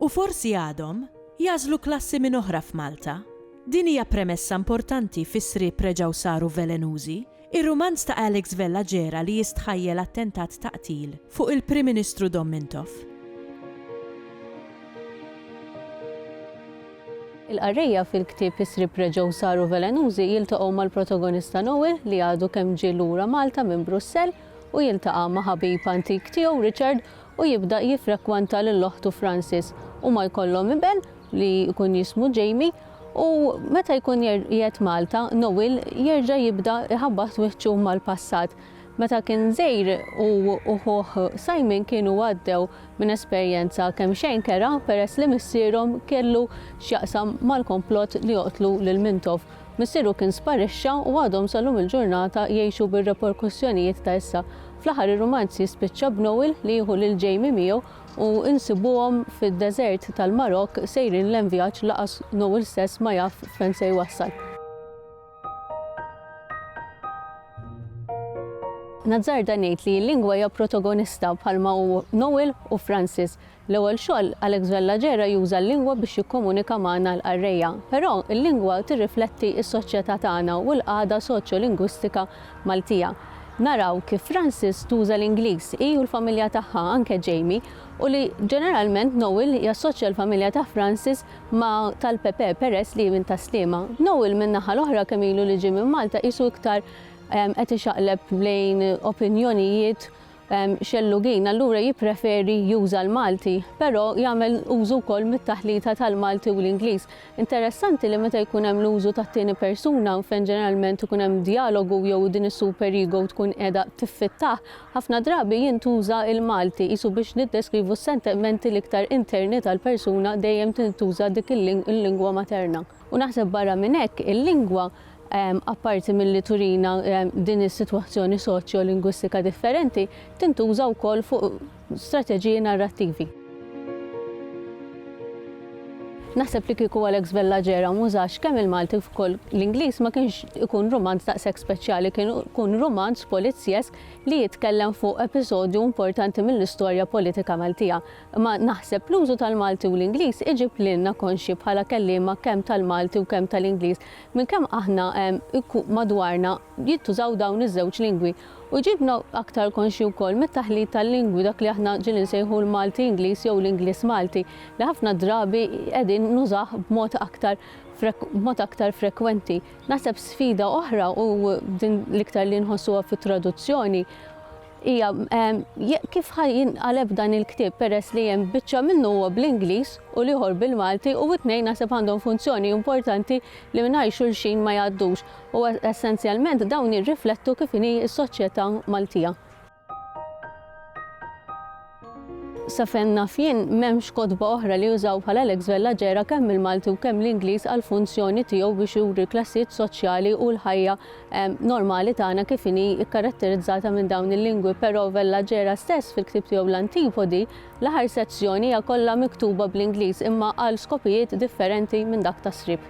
U forsi għadhom, jagħżlu klassi minn oħra f'Malta. Din hija premessa importanti fis-sriep reġgħu saru velenużi. Ir-rumanz ta' Alex Vella ġera li jistħajjel attentat ta' qtil fuq il-Prim Ministru Dom Mintoff. Il-qarrejja fil-ktieb Is-sriep reġgħu saru velenużi jiltaqgħu mal-protagonista Noe li għadu kemm ġie lura Malta minn Brussell u jiltaqa' ma' ħabib antik tiegħu Richard u jibda jiffrekwenta lil oħtu Frances. Huma jkollhom iben li jkun jismu Jamie u meta jkun qiegħed Malta, Noel jerġa' jibda jħabbat wiċċu mal-passat. Meta kien żgħir hu u ħuh Simon kienu għaddew minn esperjenza kemm xejn kerha peress li missierhom kellu x'jaqsam mal-komplott li joqtlu lil Mintoff. Missieru kien sparixxa u għadhom sal-lum il-ġurnata jgħixu bir-reperkussjonijiet ta' issa. Fl-aħħar ir-rumanz jispiċċa b'Noel li jieħu lil Jamie miegħu u nsibuhom fid-deżert tal-Marokk sejrin lejn vjaġġ laqas Noel stess ma jaf fejn se jwassal. Nazzarda ngħid li l-lingwa hija protagonista bħalma hu Noel u Francis. L-ewwel xogħol, Alex Vella Gera juża l-lingwa biex jikkomunika magħna l-qarrejja. Però, il-lingwa tirrifletti s-soċjetà tagħna u l-qagħda soċjolingwistika Maltija. Naraw kif Frances tuża l-Ingliż, hi u l-familja tagħha, anke Jamie, u li, ġeneralment, Noel jassoċja l-familja ta' Frances ma' tal-Pepe peress li hi minn Tas-Sliema. Noel, min-naħa l-oħra, kemm ilu li ġie minn Malta, qisu iktar qed ixaqleb lejn opinjonijiet Xellugin allura jippreferi juża l-Malti, però jagħmel użu wkoll mit-taħlita tal-Malti u l-Ingliż. Interessanti li meta jkun hemm l-użu tat-tieni persuna, fejn ġeneralment ikun hemm djalogu jew din is-super ego tkun qiegħda tiffittah, ħafna drabi jintuża l-Malti, qisu biex niddeskrivu s-sentimenti l-iktar interni tal-persuna dejjem tintuża dik il-lingwa materna. U naħseb barra minn hekk, il-lingwa, apparti milli turina din is-sitwazzjoni soċjolingwistika differenti, tintuża wkoll fuq strateġiji narrattivi. Naħseb li kieku Alex Vella Gera m'użax kemm il-Malti kif ukoll l-Ingliż ma kienx ikun rumanz daqshekk speċjali, kien ikun rumanz polizjesk li jitkellem fuq episodju importanti mill-istorja politika Maltija. Imma naħseb l-użu tal-Malti u l-Ingliż iġib lilna konxji bħala kelliema kemm tal-Malti u kemm tal-Ingliż minn kemm aħna madwarna jintużaw dawn iż-żewġ lingwi. U jġibna aktar konxji wkoll mit-taħlit tal-lingwi dak li aħna ġieli nsejħu l-Malti Ingliż jew l-Ingliż Malti li ħafna drabi qegħdin nużah b'mod aktar b'mod aktar frekwenti. Naħseb sfida oħra u din l-iktar li nħossuha fit-traduzzjoni Hija, Kif ħa jinqaleb dan il-ktieb peress li hemm biċċa minnu huwa bl-Ingliż u l-ieħor bil-Malti u t-tnejn naħseb għandhom funzjoni importanti li mingħajr xulxin ma jgħaddux u essenzjalment dawn jirriflettu kif inhi s-soċjetà Maltija. Sa fejn naf jien, m'hemmx kotba oħra li jużaw bħal Alex Vella ġera kemm il-Malti u kemm l-Ingliż għall-funzjoni tiegħu biex juri l-klassijiet soċjali u l-ħajja normali tagħna kif inhi kkaratterizzata minn dawn il-lingwi però Vella ġera stess fil-ktieb tiegħu l-Antipodi l-aħħar sezzjoni hija kollha miktuba bl-Ingliż imma għal skopijiet differenti minn dak tas-sriep.